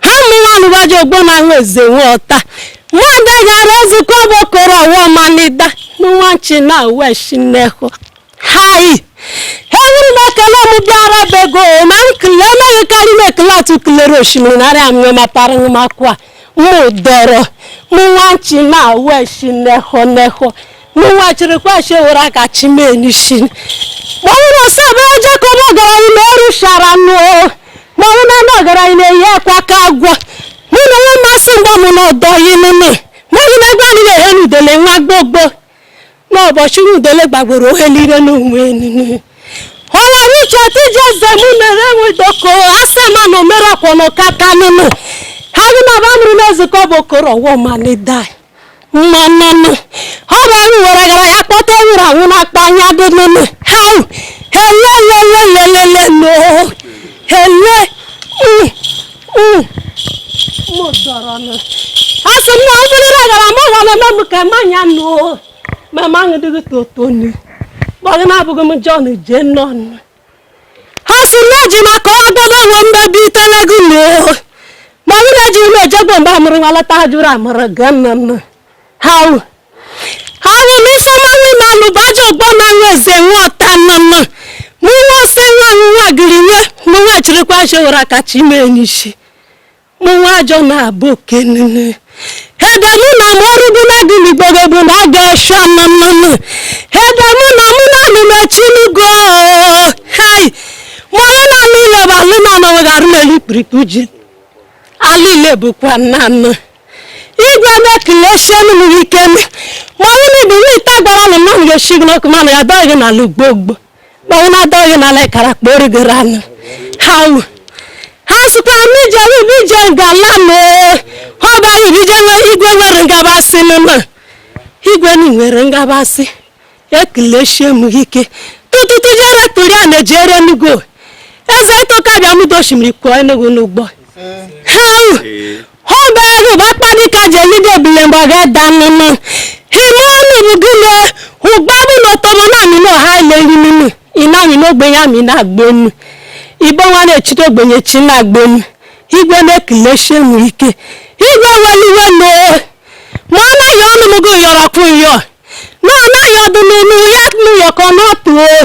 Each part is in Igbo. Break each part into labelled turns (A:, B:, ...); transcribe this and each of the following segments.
A: ha mụwa nụbaji ogbo na nwa eze nwa ọta mmadụ gara Ezike Ọba okoro ọwa manida mụ nwa nchi na uwe shinehu hai ewuru m ekele m bịara bego ma m kele emeghị karị m ekele atụ kelere osimiri narị amụ mapara m akwa m dọrọ m nwa nchi na uwe shinehu nehu mụ nwa chịrị kwachi ewere aka chimee n'isi kpọnwụrụ ọsọ bụ aja ka ọma ọgaranya na ọrụ shara nụ kpọnwụ na ndị ọgaranya na-eyi akwa ka agwọ mụ na nwa mmasị mgba m na ọdọ yi nụnụ mmadụ na egbe anyị na-ehe n'udele nwa gbogbo n'ụbọchị udele gbagburu ohe niile n'onwe nụnụ ọla nwuche tiji eze m mere enwedoko asị ma na omere ọkwọnọ kata nụnụ ha gị na ba mụrụ na Ezike Ọba okoro ọwọ ma na mmanana ọrịa ahụ were gara ya kpọta nwụrụ anwụ na-akpa anya dị nene ha helelelelelelelo hele mụ dọrọ na a sị m na mmiri na gara ma ụwa na-eme m ka mmanya nụ ma ma aṅụ dịghị totonu kpọghị na-abụghị m John jee nọ ha si na ji maka ọdọdọ nwe mmebi itelego na ma nwunye ji ụlọ ejegbo mgbe amụrụ nwa lọta ha jụrụ amụrụ ga nna nna ha wụ ha wụ na ifeọma n'ime alụba ji ọgbọ na nwa eze nwa ọta nna nna mụ nwa sị nwa m nwa gịrị nye mụ nwa chịrịkwa ji were akachi ime n'isi mụnwa ajọ na-abụ oke nile ebe mụ na m ọrụ bụ na-adị n'igbogo bụ na ọ ga-eshi ama mmanụ ebe mụ na mụ na-alụ mechi n'ugo hei mụrụ na anụ ile bụ alụ na anọ weghara n'elu ikpirikpi ji alụ ile bụkwa nna anọ igwe na-ekeleshi m ike m mụrụ na ibu nweta gwara m na m ga-eshi gị n'ọkụ mana ya dọghị n'ala ugbo ugbo kpọnwụ na-ada oyi na ala ịkara kpọ origoro anụ ha nwe ha sịkwa m ije ọrụ ibe ije ngala m ee. ha ọba ya ibe ije nwe igwe nwere ngabasị m ma igwe na nwere ngabasị ekeleshi m ike tụtụtụ jere tụrụ ya na-ejere enugo eze ịtụka bịa m dosimiri kwuo enugu n'ụgbọ ha nwe Hụbahụ bụ akpadika jelide ebule mgbe ọ ga-eda nnụnụ. Hime ọnụ bụ gịnị? Hụgbabụ na otomo na amị na ọha ile nri nunu. Ị na-amị n'ogbenye amị na-agba enu. Igbo nwa na-echite ogbenye chi na-agba enu. Igwe na-ekeleshi mụ ike. Igwe nwere iwe n'oo. Ma ọ naghị ọnụ m gị yọrọ kwụ yọọ. Na ọ naghị ọdụ n'onu ya nụ yọkọ n'ọtụ oo.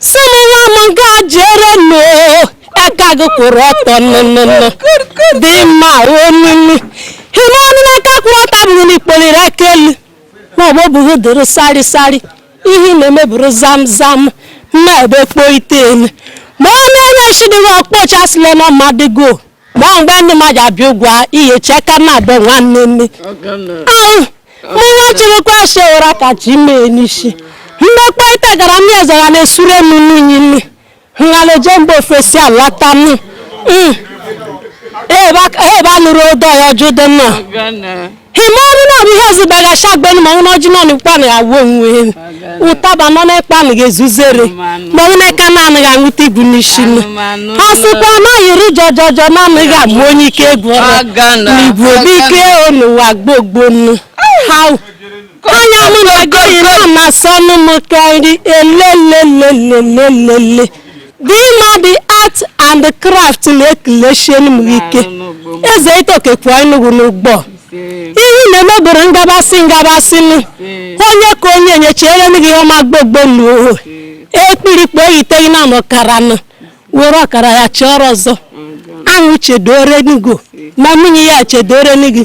A: sị mụnwa m ga jere nụ aka gị kwụrụ ọtọ nnụnụnụ dị mma onunu hime ọnụ n'aka kwụrụ ọtọ bụrụ na ikpolirị aka elu ma ọ bụ bụghị dịrị sari sari ihe na-emeburu zam zam mma ebe kpo ite elu ma ọ na-enye shidịghị ọkpọchasịla na mmadụ go ma mgbe ndị ma ja-abịa ugwu a ihe chee ka na-abụ nwanne nne Ahụ, mụ nwa chịrịkwa ese ụra ka chi mee n'isi mgbe kpọịta gara m ya zara na-esure m n'unyi nne nghaleje mgbe ofesi alata m Mm. ebe a- ebe a nụrụ odo ya ọjụ dị mma hima ọrụ nọrọ ihe ọzọ dagacha agbenu ma nwụna ọjị nọnụ kpanụ ya wuo onwe elu ụtaba nọ na-ekpanụ ga-ezuzere ma ọ na-eka naanị ga nwụta igwu n'isi nụ ha sịkwa na yiri jọjọjọ naanị ga agba onye ike egwu ọrụ n'igwe obi ike o n'ụwa gbogbo nụ ha anya m na-agụ yiri na-asọ ọnụ m karị elelelelelelele Dimadi Art and Craft na-ekelechie m ike eze itoke pụọ Enugu n'ugbo ihe na-emeburu ngabasị ngabasị nụ onye ka onye nyechiere m gị ihe ọma gbogbo n'uhu ekpirikpe oyiteghị na ọkara nụ were ọkara ya chọrọ ọzọ ahụ chedoro Enugu ma nwunye ya chedoro Enugu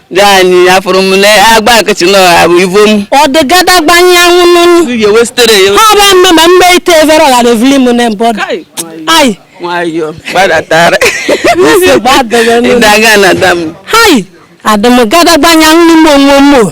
B: Jani afụrụ m na agba akịchị na ọha bụ ivo m. ọ dị gada gbanye
A: anwụ n'ụlọ Ihe wesitere ya.
B: ha bụ mme ma mme
A: ite evere ọghara evili m na mbọdụ Kai. ayi Nwayọọ
B: gbadatara. nsị
A: gbadoro n'ụlọ Ịdaga na dam.
B: hai
A: adịm gada gbanye anwụ n'ime onwe m o.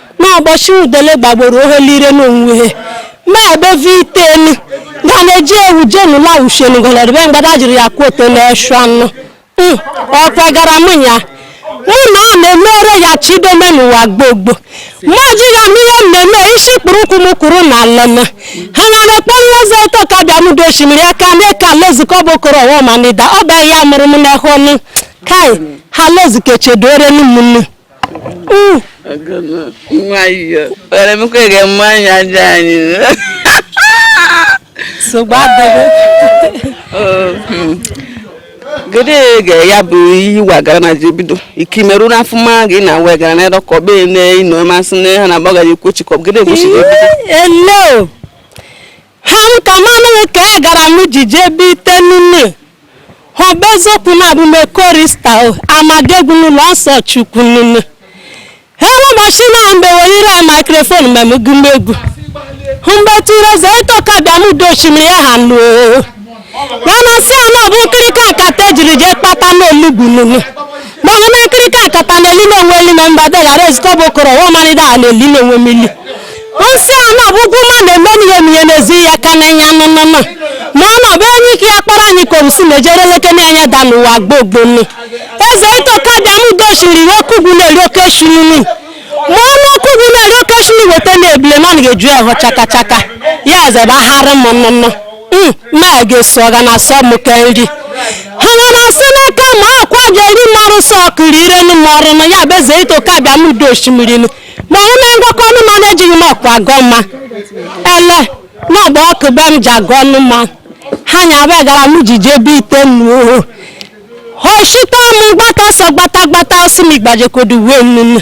A: n'ụbọchị udele gbagboro ohelire n'onwe ha mebeve itenu ga na-eji ewu jenu na ushenu gọnọdụbe mgbada jiri ya kwuo ote na-eshu anụ Mm, ọ kwegara mụ ya mụ na ọ na-emere ya chidome n'ụwa gbogbo mụ ejighị anụ ihe m na-eme isi kpụrụ ụkwụ m kwuru na alana ha nwere kpọrọ eze itoka bịa m udo osimiri aka mee ka Ezike Ọba okoro ọwa manida ọ bụ ya mụrụ m n'ehụ ọnụ kai ha l'Ezike chedore n'ụmụnne
B: nwayọ were m ka ga mma anya aja anyị
A: nsogbu adịghị
B: gede ga ya bụ ihe wagara na ji bido ike imerụ n'afọ mma gị na wegara na ịdọkọ be na ịnọ masị na ha na-agbagaghị ekwochikọ gede egbochiri ebido
A: ha nka manụghị ka e gara m jije ebe ite nne ha bụ eziokwu na abụ m chorister amadegwu n'ụlọ nsọ chukwu nne ha ụbọchị na mgbe werire microphone mgbe m gụma egwu mgbe tụrụ eze itoka bịa m udo oshimiri ya ha lụọ mana si ya na ọ bụ nkirika akata e jiri jee kpata n'olugbu nunu gbaghe na nkirika akata na eli na o nwe eli na mba deghara Ezike Ọba okoro wa marịda a na eli na o nwe mili nsị a na bụ ugwu ma na-eme n'ihe mihe n'ezi ya ka na ya nọ nọ ma ọ na ọ bụ enyi ike ya kpọrọ anyị ka obusi na-ejere leke na anya da n'ụwa gbogbo nne eze itoka bịa m gochiri iwe kugwu na-eri oke shiri nri ma ọnụ ọkụ gị na-eri oke shiri weta na ebule na ọ na-eju ahụ chaka chaka ya eze bụ ahara m nnụnụ m ma ga-esi ọ ga na-asọ m ka nri ha nwere asị n'aka ma akwa ga-eri m ọrụ sọ ọkụrụ ire nụ m ọrụ nụ ya bụ eze ito ka bịa m udo osimiri nụ ma ọ na ngwakọ ọnụ ma na-ejighị m ọkụ agọ mma ele na ọgba ọkụ be m ji agọ ọnụ mma ha nya be gara m ji jebe ite nnu oshita m gbata sọ gbata gbata ọsị m igbajekodu uwe m nnu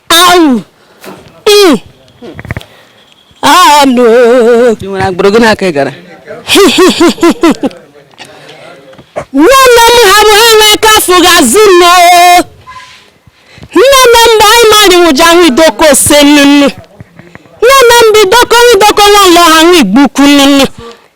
A: Au! Mm. Ah, no.
B: Ị nwere agbụrụ gị n'aka Igara?
A: Nne nne m ha bụ ha n'aka afọ ga-azụ nne. Nne nne m bụ anyị mmadụ nwụja ahụ idoko ose nnụnụ. Nne nne m bụ idoko nwụdoko nwa ụlọ ha nwa igbu ukwu nnụnụ.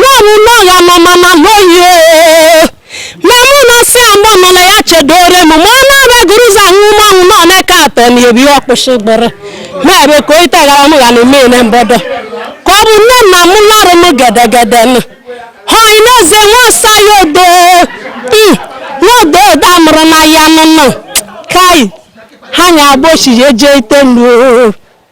A: n'ọnụnụ ọghọ ma mama loye ma mụ na si amụ nụla ya chedore m ma ọ na-abịa gụrụ ụzọ ahụ ụmụ ahụ nọ na-eke atọ na ebi ọkpụsị gbere ma ebe ka oyi tagara m ga na eme na mbọdọ ka ọ bụ nne na mụ lọrụ m gedegede nụ ha ị na-eze nwa ọsa ya odo Mm, nwa odo odo amụrụ na ya nụnụ kai ha nya agbochi ya eje ite nụ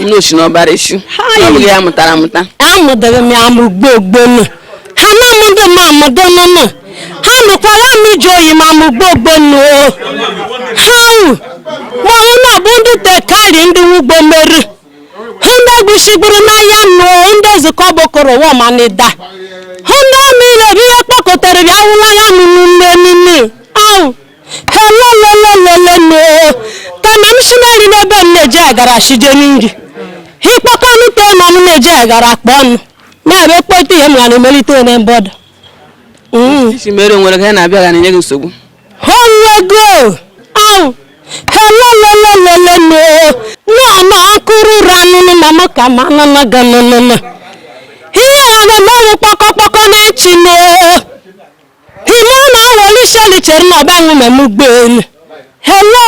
B: ilu ochi na ọbara echu ọ bụghị ya mụtara amụta amụdịrị m ya amụ
A: gboo gboo nụ ha na-amụ ndị m amụdị nụ nụ ha nụkwara m ije oyi ma amụ gboo gboo nụ o ha wụ ma ọ na bụ ndị tekari ndị wugbo meri hụ ndị egwusigburu n'ahịa nụ o ndị ezukọ bokoro wọ ma n'Ịda hụ ndị amị na-ebi ihe kpọkọtara bịa wụla ya nụ nne nne awụ helolololololo kama m sinari n'ebe m na-eji agara sije n'iri ha ịkpọkọ ọnụ tee ma m na-eji agara akpa ọnụ na-abụ ekpọta ihe m ga na-emelite na mbọdọ isi
B: mere nwere ka ya na-abịa ga na-enye gị nsogbu ha
A: nwego ahụ helolololololo na-ama akụrụ ụra anụnụ ma m ka ma anụnụ ga nụnụnụ ihe ya na-eme ọnwụ kpọkọkpọkọ na-echi m Imana Awolisheli chere na ọgbanwe mmemme ụgbọelu hele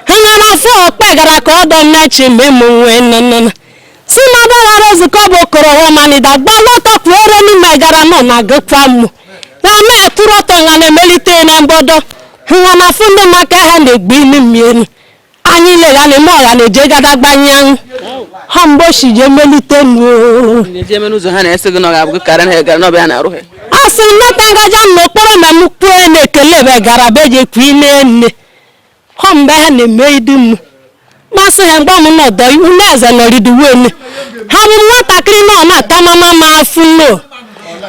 A: ha nya na-afụ okpe gara ka ọdọ mmechi mmemme nwe nnụnụ si na ọgbaghara nzukọ bụ okoro ọmanida gbalụ ọtọ pụoro n'ime gara mụ na gụkwa mụ na ma akwụrụ ọtọ nga na-emelite na mbodo ha nya na-afụ ndị maka ha na-egbu imi mmiri anyị lere anyị ma ọla na-eje gada gbanye ahụ ha mgbe ochi je melite nuo na-eji eme n'ụzọ ha na-esi
B: gị na ọ ga-abụ karị na gara n'ọbịa ha na-arụ ha a sị m nata
A: gaja m n'okporo ma m kwue na-ekele ebe gara be je kwu ine nne ha mgbe ha na-eme idu m masị ha mgbe m nọdọ unu eze nọriduwe nne ha bụ nwatakịrị na ọ na-ata mama m afụ nno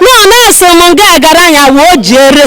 A: na ọ na-eso m ga gara anya wee o jere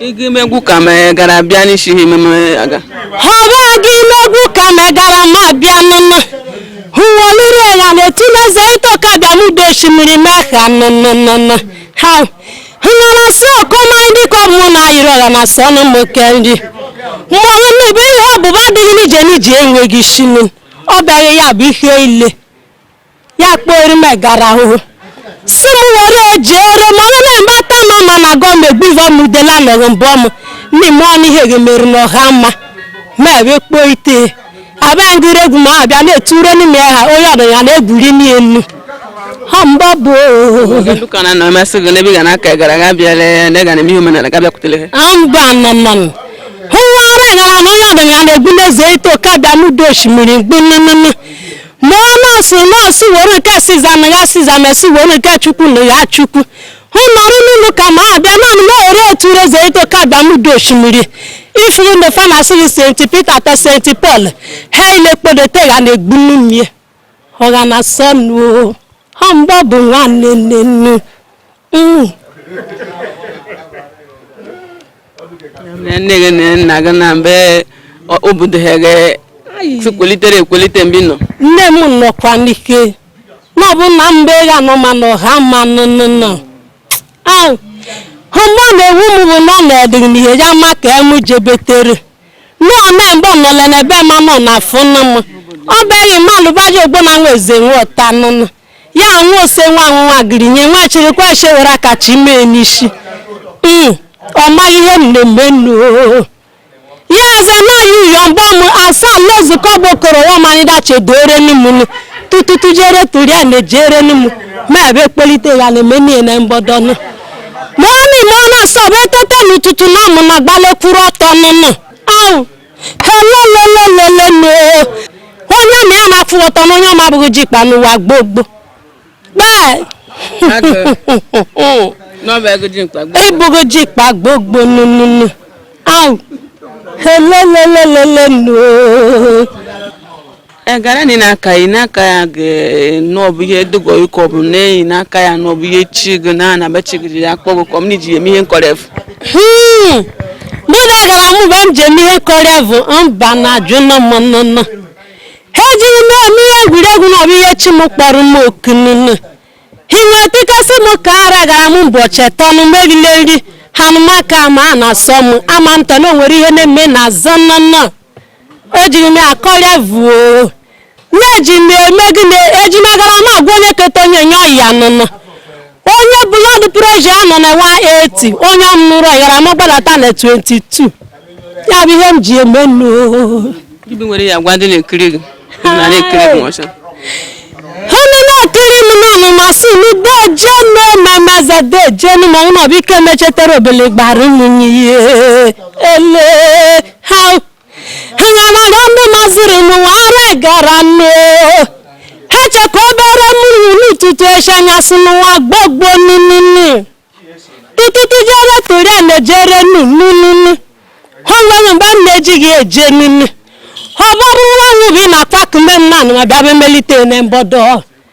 B: Igi megwu ka megara bịa n'isi ha ememe aga. Họba
A: gị megwu ka megara ma bịa nụnụ. Huwolire ya na-eti n'eze ịtọ ka bịa n'udo osimiri mee ha nụnụnụnụ. Ha hụna na sị ọkọma ndị ka ọ bụ na ayịrị ọla na sị ọnụ m oke nri. Mgbe onye mmebe ihe ọbụba adịghị n'ije n'ije enweghị isi nụ. Ọ bịaghị ya bụ ihe ile. ya kpọrọ m egara ahụhụ si m were jere m onye na-eme ata m ma ma gọọ m egbuva m udela nọghị mbọ m n'ime ọnụ ihe ga-emeri na ọha mma ma ebe kpoo ite abịa ngịrị egwu ma abịa na-eture n'ime ha onye ọdụ ya na-egwuri n'elu ha mgba bụ
B: Nduka na nọ masị gị n'ebe ị ga n'aka gara aga bịara ya na ị ga na-eme ihe omenala ga bịakwutere ha mgba nnọnnọ
A: hụ nwa ara egara na onye ọdụ ya na-egbu n'eze ito ka bịa n'udo osimiri mgbu nnụnụ ma ọ na-asị were nke Siza nye Siza ma esi were nke Chukwu nye Chukwu hụ nọrọ n'ụlọ ka ma abịa naanị ma ore otu reze ito ka bịa n'udo osimiri ifuru na fa na-asị St Peter ta St Paul ha ilekpodote ya na-egbu mmiri ọha na sọnụ ha mgbe ọ bụ nwanne nne nnu Mm.
B: nne gị na nna gị na mbe obodo ha gị sikwelitere ekwelite mgbe nọ nne m nọkwa
A: n'ike na ọ bụ na mbe ga nọ ma na ọha ma nọ nọ nọ ahụ ha mgbe ọ na-ewu m bụ na ọ na-edịrị m ihe ya ma ka m jebetere na ọ na mgbe ọ nọla n'ebe ma nọ na afọ nna m ọ bịaghị mmalụ baji ogbo na nwa eze nwe ọta nụnụ ya nwa ose nwa anwụnwa gịrị nye nwa chịrị kwa chi were aka chi mee n'isi Mm, ọ maghị ihe mmemme nnu ya aza naghị uyo mgba m asa ala nzukọ gbokọrọ ya marịda chedore n'ụmụnne tututu jere tụrụ ya na ejere n'ụmụ ma ebe kpelite ya na emenie na mgbọdọnụ ma ọ na-eme ọ na-asọ bụ etete n'ụtụtụ na ọmụ na gbalekwuru ọtọ nụnụ ahụ helolololololo onye ma ya na-afụ ọtọ na onye ọma ọ bụghị ji kpa n'ụwa gboo gboo gbaa
B: ịbụghị ji
A: kpa gboo gboo nununu ahụ helolololololo
B: egara ni n'aka yi n'aka ya gị na ọ bụ ihe dogo ịkọ bụ n'eyi n'aka ya na ọ bụ ihe chi gị na anaba chi gị ji ya akpọ gị kọm na iji ya eme ihe nkọref Hmm.
A: mụ na egara m mgbe m ji eme ihe nkọref bụ mba na ajụ nọ m nnụnụ ha ejighị m eme ihe egwuregwu na ọ bụ ihe chi m kpọrọ m oku nnụnụ hinwe tikasị m ka ara gara m ụbọchị atọ nụ m erila nri ha nụmaka ma a na-asọ m ama m tọ na o nwere ihe na-eme na azọ nnụnụ ejiri m ya kọrịa vuo na-eji m eme gịnị eji m egara m agwọ onye keta onye nye ọyị ya nụnụ onye blood pressure ya nọ na 180 onye m nụrụ egara m ọ gbadata na 22 ya bụ ihe m ji eme nụ Gị bụ nwere
B: ya gwa ndị na-ekiri gị na na-ekiri gị
A: ọcha ọnụ na-atụrụ m n'ọnụ masị m deje mmemeze deje nụ ma ụlọ bụ ike mechetara obele gbara ụmụnye ihe ele ha ha na-amaga ndị maziri m wara egara nụ ha chekwa obere mmiri n'ụtụtụ echi anyasị n'ụwa gbogbo ninini tụtụtụ jere tụrụ ya na-ejere nụ ninini ha nwere mgbe m na-ejighị eje nini ọ bụrụ nwa nwụbi na pak ndị mmanụ ma bịa melite na mbọdọ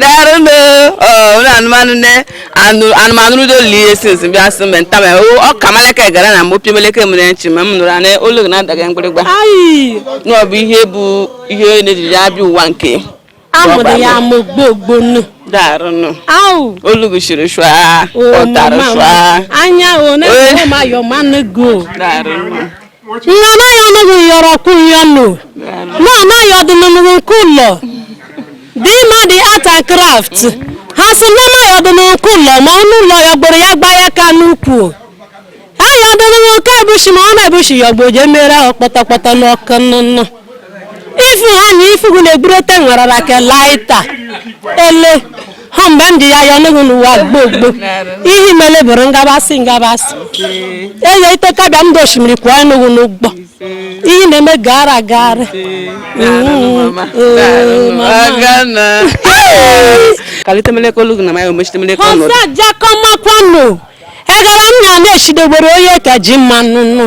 B: daalụ nụ ụlọ anụmanụ nne anụmanụ rudo lili ihe since bịa sị mgbe nta ma ọka maleke egara na m opi meleke m na-echi ma m nụrụ na olu gị na-adaga mgbịrịgba na ọ bụ ihe bụ ihe onye na-ejiri ya bịa ụwa nke amụrụ
A: ya amụ gbogbonu
B: daalụ olu gị chiri shwa ụtara shwa anya one
A: ma yọmanụ go daalụ
B: nna
A: ayọ ọnụghị yọrọ kwụ ya nụ na ayọ ọdịnụnụgụ nke ụlọ dị ma dị art and craft ha sị na ayọ ọdịnụgụ nke ụlọ ma n'ụlọ yọgboro ya gba ya ka n'ukwu ayọ ọdịnụgụ nke ebushi ma ọ na-ebushi yọgbo je mere ọkpọtọkpọtọ n'ọkụ nnụnụ ifu ha na ifu gụ na-egburu ote nwerara ka laịta ele ha mgbe ndị ya ya ọnụghị n'ụwa gboo gboo ihe mele bụrụ ngabasị ngabasị eye iteka bịa ndị osimiri kwụọ ọnụghị n'ụgbọ ihe na-eme gara gara
B: ọza jakọmakwanụ
A: egara nna na-echidegbere onye ka ji mmanụ nụ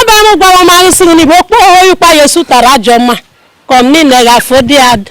B: abam gwara m anyị sịrị n'igbo okpo oyi kwa ya esutara ajọ mma ka m niile ga-afọ dị adụ